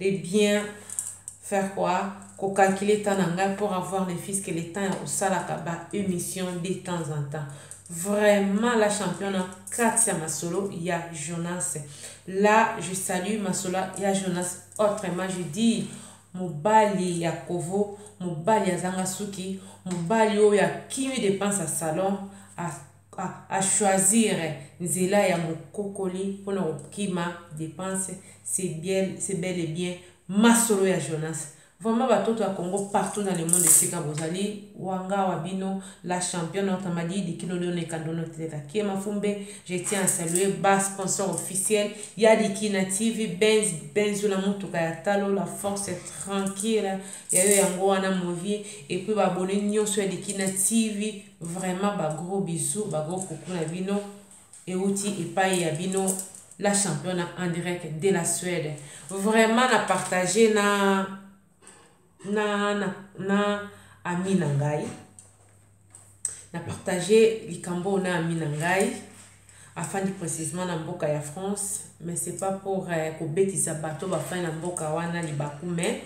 de bien faire quoi ko calculer temps na ngai pour avoir ne fils que le temps ya kosalaka ba émission de temps en temps vraiment la championne na kati ya masolo ya jonas là je salue masolo ya jonas autrement je dis mobali ya kovo mobali azanga suki mobali oyo akimi depense ya salon a choisir nzela ya mokokoli pona kokima depense c'est bien c'est bel et bien masolo ya Jonas vraiment batoto ya Congo partout na le monde esika bozali wanga wa bino la championne otamadi dikilo leone kandono teleka kiema fumbe je tiens à saluer ba sponsor officiel ya dikina tv benz benzo na motuka ya talo la force tranquille ya yo yango wana movie et puis ba abonne nyonso ya dikina tv Vraiment ba gros bisous, ba gros coucou na bino euti epai ya bino la championne en direct de la Suède. Vraiment na partager na na na, na ami na ngai na partager likambo na ami na ngai afandi précisément na mboka ya France mais c'est pas pour euh, kobetisa bato bafandi na mboka wana libaku mais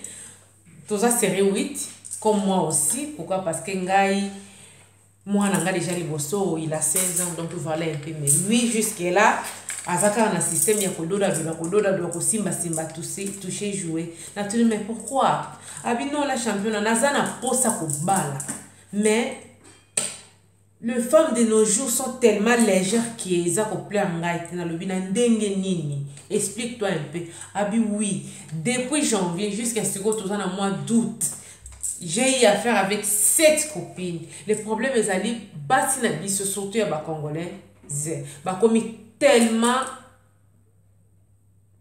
Toza serieux wit comme moi aussi pourquoi parce que ngai moi nanga déjà liboso il a 16 ans donc voilà un peu mais lui jusque là aza kaka na système ya kododa doda kododa doda kosimba simba touche joue na tuni mais pourquoi abino la championa naza na posa kobala mais Le femme de nos jours sont tellement légère que eza ko plaire ngai te nalobi na ndenge nini explique toi un peu abi oui depuis janvier jusqu'à sikoyo toza na mois d'août j'ai eu affaire avec sept copines le problème ezali basi na biso surtout ya bacongolais bakomi tellement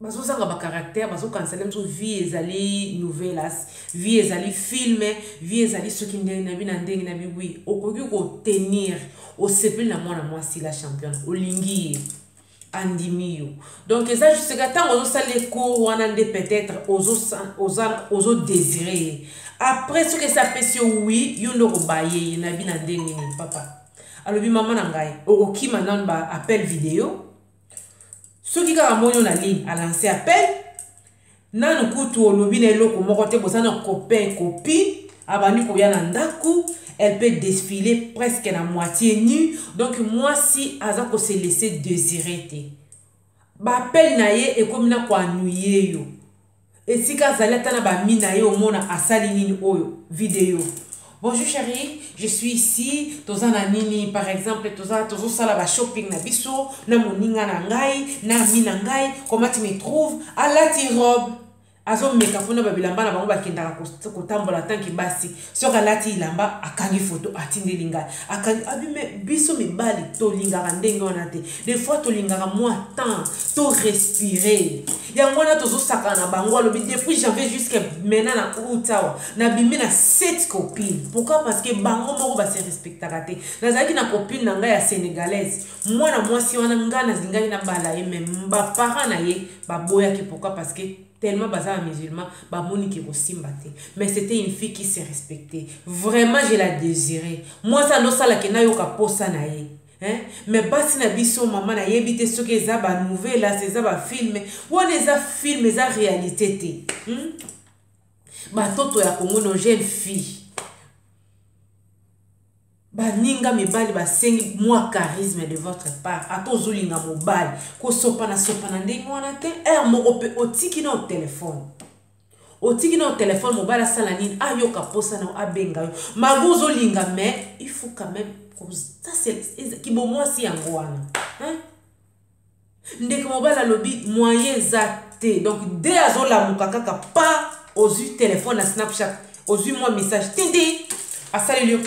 bazozanga bacaractère bazokanisala biso vie ezali novelas vie ezali filme vie ezali soki ndenge na bi na ndenge na bi wi okoki kotenir osepeli na mwana mwasi la championne olingi ye andimi yo donc eza juste ka ntango ozosala ecour wana nde peut-être ozodésire ye après soki esi apesi yo wi yo nde okobaye ye na bi na ndenge nini papa alobi mama na ngai okokima nanu ba appel video soki kaka amoni yo na ligne alance appel nanu kutu olobi na eloko moko te boza na copain copie abandi koya na ndako elle peut défiler presque na moitié nu donc mwasi aza ko se laisser désirer te bapele na ye ekomi na koanuye yo esika azali ata na bami na ye omona asali nini oyo video bonjour chérie je suis ici toza na nini par exemple toza tozosala bashopping na biso na moninga na ngai na ami na ngai comment tu me trouve alati robe azomeka mpona babilamba na bango bakendaka kotambola tanke basi soki alati ilamba akangi foto atindeli ngai akangi abime biso mibali tolingaka ndenge wana te des fois tolingaka mwa temps to respire yango wana tozosakana na bango alobi depuis janvier jusque maintenant na out awa nabimi na sept copine pourquoi parce que bango moko base respectaka te nazalaki na copine na ngai ya sénégalaise mwana mwasi wana ngai nazingaki na bala ye me baparent na ye baboyaki pourquoi parce que tellement baza ba musulman bamoni ke kosimba te mais c'était une fille qui se respectait vraiment je la désiré mwasi andosala ke nayoka posa na ye Hein? mais basi na biso mama nayebi te soki eza banouvela eza bafilme wana eza filme eza réalité te hmm? batoto ya kongo no jeune fille baninga mibali basengi mwa charisme de votre part ata ozolinga mobali kosopanasopana ndenge wana te r moko mpe otiki na telefone otiki na telefone mobali asala nini ayoka mposa na abenga yo malgre ozolinga mais il faut quand même kibomwasi yango wana ndeko mobali alobi moyen eza te donc de azolamuka kaka pa ozwi telefone na snapchat ozwi mwa message tindi asaleli yo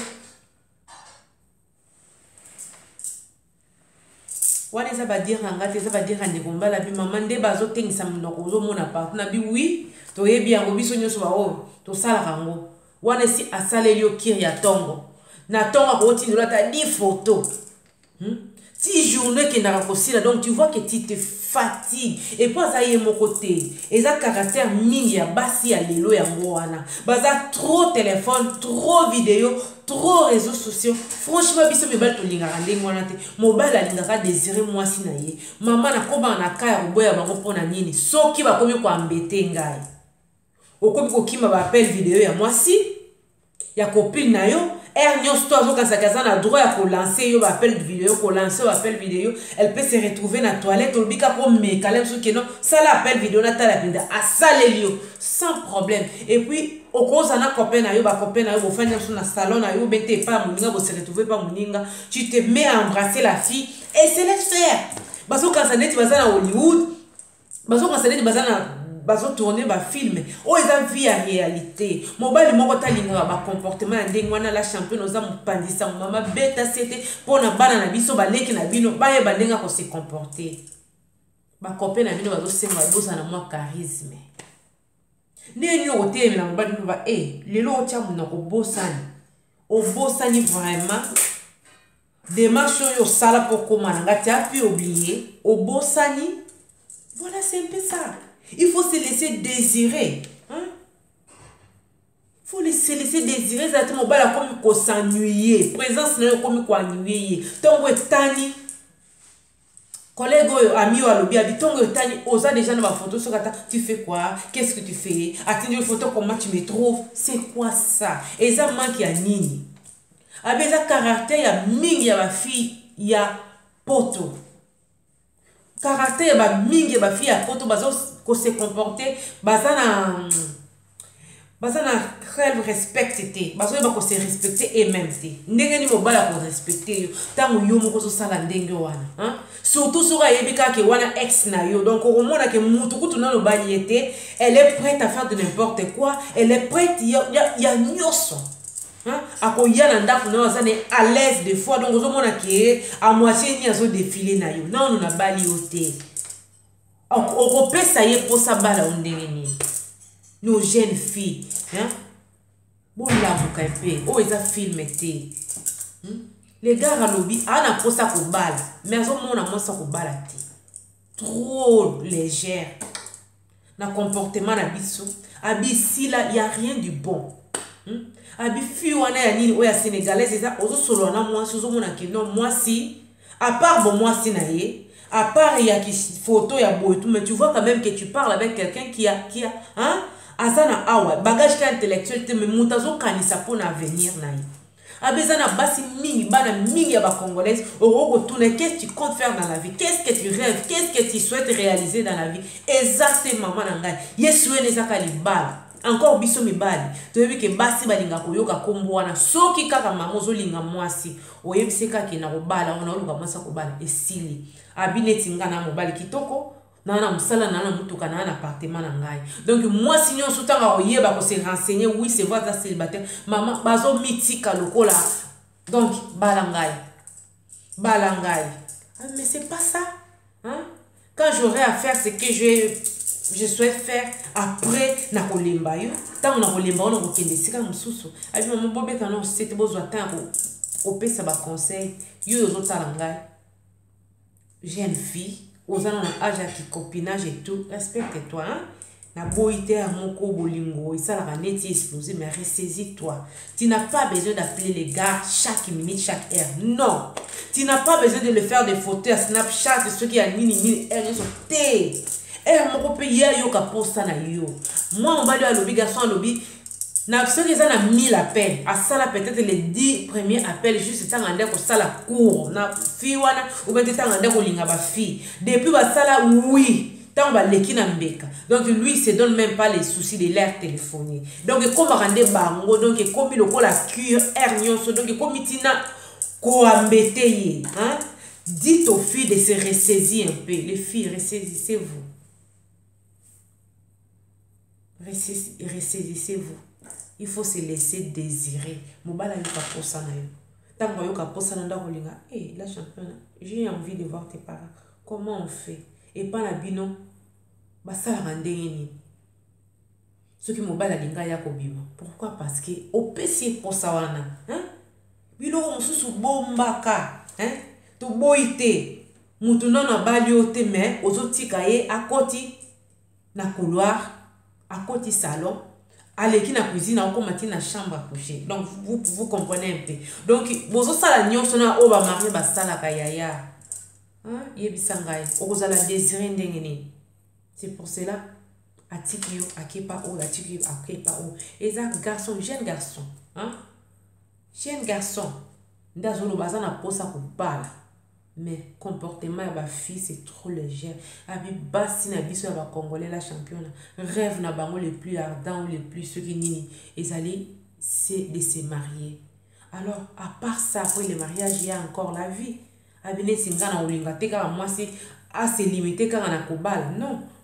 wana eza badire na ngai te eza badire ya ndeko mobali abi mama nde bazotengisa monoko ozomona partout na bi wi toyebi yango biso nyonso baoyo tosalaka yango wana esi asaleli yo kiri ya ntongo na ntongo akotindola ata di foto Hmm? ti journée ekendaka kosila donc tu vois que tu te fatigue epo aza ye moko te eza caractère mingi ya basi ya lelo yango wana baza trop téléphone trop video trop réseau sociaux franchement biso mibali tolingaka ndenge wana te mobali alingaka désiré mwasi na ye mama nakobaka na ka ya koboya bango mpo na nini soki bakomi koambete ngai okomi kokima ba appel video ya mwasi ya copine na yo heure nyonso to azokanisaki aza na droit ya kolanse yo baappel video kolanse yo appel video elle peut se retrouver na toilette olobi kaka omeka la biso keno sala appel video natala mpenza asaleli yo sans problème et puis okoza na copain na yo bacopain na yo bofandi biso na salon na yo obete epai ya moninga bose retrouve epai moninga tu te mets à embrasser la fille et se laisse faire bazokanisa neti baza na hollywood bazo considere baza na bazo tourner ba film oyo eza vie ya réalité mobali moko talingaka ba comportement ya ndenge wana la championne oza mopanzi sango mama beta sete mpo na bana na biso baleki na bino bayeba ndenge ako se comporter bakope na bino bazosenga bozala na mwa charisme ndenge nini okotelemela mobali mpo ba e lelo otya monoko obosani obosani vraiment Demarche oyo osala mpo okoma na nga, tu as pu oublier, obosani. Voilà, c'est un peu ça. Il faut se laisser désirer. Hein? Il faut se laisser désirer. Ezala te mobali akomi kosennuyer. Présence na yo ekomi koennuyer ye. Ntongo etani. Collègue oyo ami oyo alobi abi ntongo etali oza déjà na ba photo soki ata tu fais quoi qu'est-ce que tu fais atindi photo comment tu me trouves c'est quoi ça eza manque ya nini abi eza caractère ya mingi ya bafille ya poto caractère ya bamingi ya bafille ya poto baza kose comporte baza na baza na rel respecte te bazoyeba kose respecte ememe te ndenge nini mobali akorespecte yo ntango yo moko ozosala ndenge wana surtout soki ayebi kaka ke wana ex na yo donc okomona ke mutu kutu na lobali ye te elle est prête à faire de n'importe quoi elle est prête ya, ya, ya nyonso akoya na ndako na yo aza na à l'aise de fois donc ozomona ke amoitie nini azodefile na yo nano nabali yo te okopesa ye mposa bala o ndenge nini no jeune fille hein? bolamuka mpe oyo oh, eza filme te hmm? legare alobi aa na mposa kobala me azomona mwasi akobala te trop légère na comportement na biso abisila ya rien du bon hmm? abi fi wana ya nini oyo ya sénégalaise eza ozosolola na mwasi ozomona kino mwasi A part bo mwasi na ye, a part ya ki photo ya boye tout mais tu vois quand même que tu parles avec quelqu'un qui a qui a hein aza na awa bagage ka intellectuel te mais moto azokanisa mpo na avenir na ye abe eza na basi mingi bana mingi ya bacongolaise okoki kotuna qu'est-ce tu compte faire dans la vie qu'est-ce que tu rêves qu'est-ce que tu souhaites réaliser dans la vie eza te mama na ngai yesu ene ezaka libala encore biso mibali toyebi ke basi balingaka koyoka nkombo wana soki kaka mama ozolinga mwasi oyebisi ye kaka na kobala ona oluka mwasi akobala esili abi neti nga na mobali kitoko naa na mosala naa na motuka naa na apartema na ngai donc mwasi nyonso ntango akoyeba kose renseigner oui c'est vrai aza célibataire mama bazomitika lokola donc bala ngai bala ngai ah, mais c'est pas ça hein? quand j'aurai à faire ce que je, je souhaite faire après nakolemba yo ntango nakolemba yo nakokende esika mosusu abi mama bobeta no sete bozwa ntango ya kopesa baconseil yo ozotala ngai jeune fille oza na na age ya kicopinage et tout respecte toi hein? Na boyi te ya moko bolingo esalaka neti explose mais ressaisis toi tu n'as pas besoin d'appeler les gars chaque minute chaque heure non tu n'as pas besoin de le faire des photos ya snapchat soki ya nini nini heure nyonso te heure moko mpe ye ayoka mposa na yo mwa mobali oyo alobi garçon alobi na soki eza na 1000 appel asala peut-être les 10 premier appel juste ntanga nde akosala cour na fille wana obe te ntanga nde akolinga bafille depuis basala oui ntango baleki na mbeka donc lui se donne même pas les soucis de l'air téléphonie donc ekomaka nde bango donc ekomi lokola cure air nyonso donc ekomi ntina koambete ye hein? dites aux filles de se ressaisir un peu les filles ressaisissez vous ressaisissez vous il faut se laisser désirer mobali ayoka mposa na yo ntango ayoka mposa na ndako olinga e eh, la championa j'ai envie de voir tes parents Comment on fait? Epa na bino basalaka ndenge nini? Soki mobali alinga ya kobima, pourquoi? Parce que opesi ye posa wana. Hein? Biloko mosusu bombaka, hein? Toboyi te. Mutu nano abali yo te mais ozotika ye akoti na couloir akoti salon aleki na cuisine akoma ti na chambre à coucher donc vous, vous comprenez un peu donc bozosala nyonso na oyo bamarie basalaka yaya yebisa ngai okozala désiré ndenge nini c'est pour cela atiki yo akepa oyo atiki yo akepa oyo eza garçon jeune garçon hein? jeune garçon nde azoloba aza na mposa kobala mais comportement ya ba fille c'est trop légère abi basi na biso ya ba congolais la championa rêve na bango le plus ardent ou le plus soki nini ezali c'est de se marier alors à part ça après le mariage il y a encore la vie abi neti nga na olinga te kaka mwasi ase limite kaka na kobala non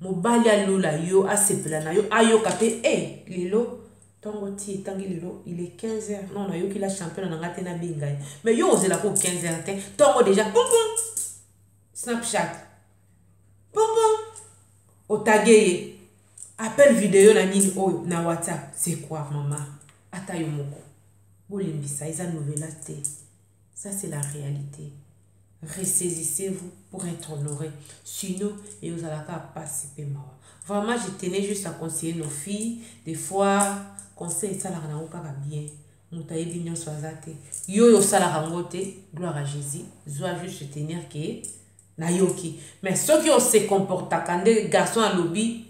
mobali alola yo asepela na yo ayoka mpe e eh, lelo ntongo ti etangi lelo il est 15 heures non nayoki la championa na ngai te nabenga ye mais yo ozela ko 15 heures te ntongo déjà pompom snapchat pompom otage ye appel video na nini oyo na whatsapp c'est quoi mama ata yo moko bolimbisa eza novela te Ça, c'est la réalité. Ressaisissez-vous pour être honoré. Sinon, et vous allez pas passer mawa. Vraiment, je tenais juste à conseiller nos filles. Des fois, conseil, ça, la pas bien. moto ayebi nyonso aza te yo oyo osalaka yango te gloire à jésus zwa juste tenir ke nayoki mais soki ose comportaka nde garçon alobi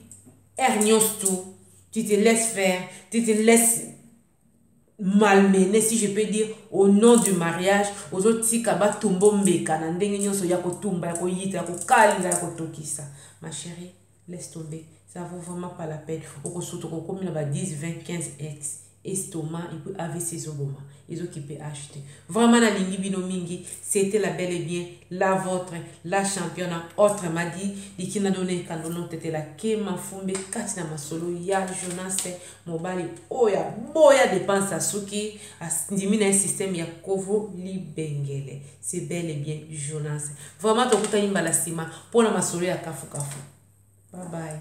aire nyonso tu te laisse faire tu te laisse malmené si je peux dire au nom du mariage ozotika batumba ombeka na ndenge nyonso ya kotumba ya koyita ya kokalinga ya kotokisa ma chérie laisse tomber ça vaut vraiment pas la peine okosuta okokomi na ba 10 20 15 ex estomac et puis avc ezoboma ezokipe acheter vraiment nalingi bino mingi c'était la belle et bien la vôtre la championne autre m'a dit likina dona ekando notetela ke mafumbe kati na masolo ya jonas Mobali oyo aboya depense asuki andimi na ye système ya kovo libengele c'est bel et bien jonas vraiment tokutani mbala nsima mpo na masolo ya kafukafu babaye